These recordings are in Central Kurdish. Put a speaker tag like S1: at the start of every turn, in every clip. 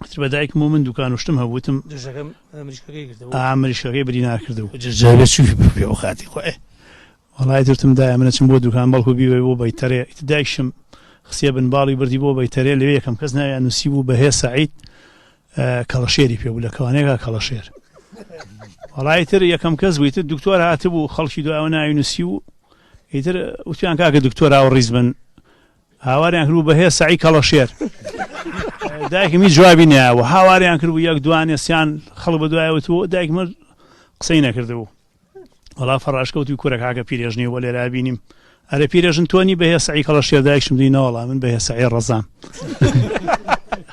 S1: وتر بە دایکم و من دوکان و شتم هەبوو وتم دژەکەم اه، مریشکەکەی گرتەوە و ئا مریشکەکەی بری ناکرد و جەرجەرەکە چووی بە پێ و خاتی خۆی ئێ وەڵای وتم دایە من ئەچم بۆ دوکان بەڵکو بیبەی بۆ بەیتەرێ ئیتر دایکشم خستیە بن باڵی و بردی بۆ بەیتەرێ لەوێ یەکەم کەس ناویان نووسیبوو بەهێز سەعید اه، کەڵەشێری پێ بوو لە کەوانێکا کەڵەشێر وەڵای تر یەکەم کەس بوو تر دکتۆر هاتبوو خەڵکی دوایەوە ناوی نووسی و ئیتر وتیان کاکە دکتۆر ئاوڕیز بن هاواریان کردبوو بە هێ سەعی کەڵەشێر. دایکم هیچ جوابی نەیاوە. هاواریان کردبوو یەک دوانێ سیان خەڵک بە دوایەوە چوو، دایکم هەر قسەی نەکردبوو. وەڵا فەڕاش کەوتووی کورە کاکە پیرێژنی وە لێرا بینیم. ئەرێ پیرێژن تۆ نی بە هێ سەعی کەڵەشێر؟ دایکشم دی نەوەڵا من بە هێ سەعی ڕەزام.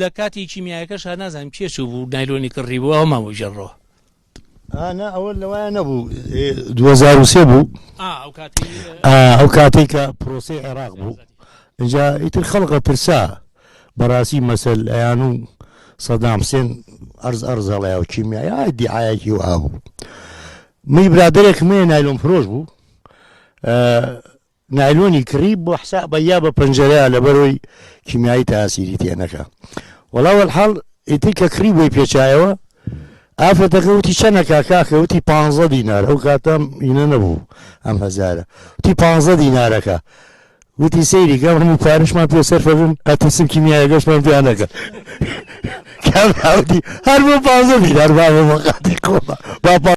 S1: لە کاتی کیمیایەکەش هەر نازانم کێ چوو بوو نایلۆنی کڕی بوو ئەوە مابوو ژەڕەوە ئانا ئەوە لەوایە نەبوو 2023 بوو ئەو کاتێک کە پرۆسی عێراق بوو اینجا ئیتر خەڵقە ترسا بەڕاستی مەسەل ئەیان و سەدام حسێن ئەرز ئەرزەڵەیە و کیمیایا دیعاەکی و ئابوو من برادێکمێ نایلۆم فرۆش بوو نایلۆنی کڕی بۆ حسابە یا بە پەنجەرەیە لەبەرۆی کیمیایی تاسیری تێ نەکا وەڵا وەلحاڵ ئیتر کە کڕی بۆی پێچایەوە ئافرەتەکە وتی چەنەکە کاکە وتی پ دینار ئەو کاتەم ئینە نەبوو ئەم هەزارە وتی پ دینارەکە وتی سەیری گەم هەموو پارشمان پێ سەرفەبن ئەترسم کیمیایە گەشتمان پێیان نەکە کاوتی هەر بۆ پ دینار بابە مەقاتی کۆمە با